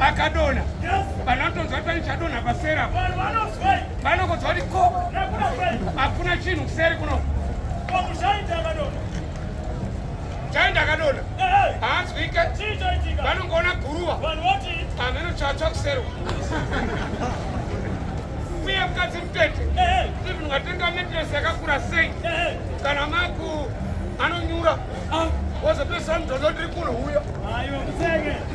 akadona vanhu vanotonzwa kuti pane chadonha pasera vanokonzwa kuti ko hakuna chinhu kuseri kuno chai ndakadona haanzwike vanongoona guruva hameno chatsva kuserwa uye mukadzi mutete even ungatenga metresi yakakura sei kana maku anonyura ah. wozopesa mudhodhodiri kuno huyo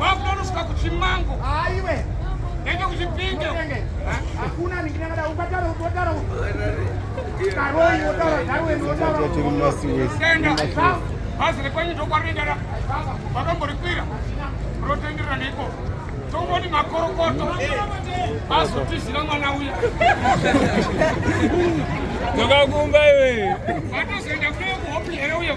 Wakutonoswa kuchimango. Aiwe. Nenge kuchipinge. Hakuna ningina kada ukatara ukotara. Karoi wotara nawe wotara. Kuti mnasi wese. Tenda. Bhazi rekwenyu ndokwarenda ra. Vakamborikwira. Rotenderera neiko. Tongoni makorokoto. Azotizira mwana uya. Tokakumba iwe. Vatozoenda kule kuhopi here uye.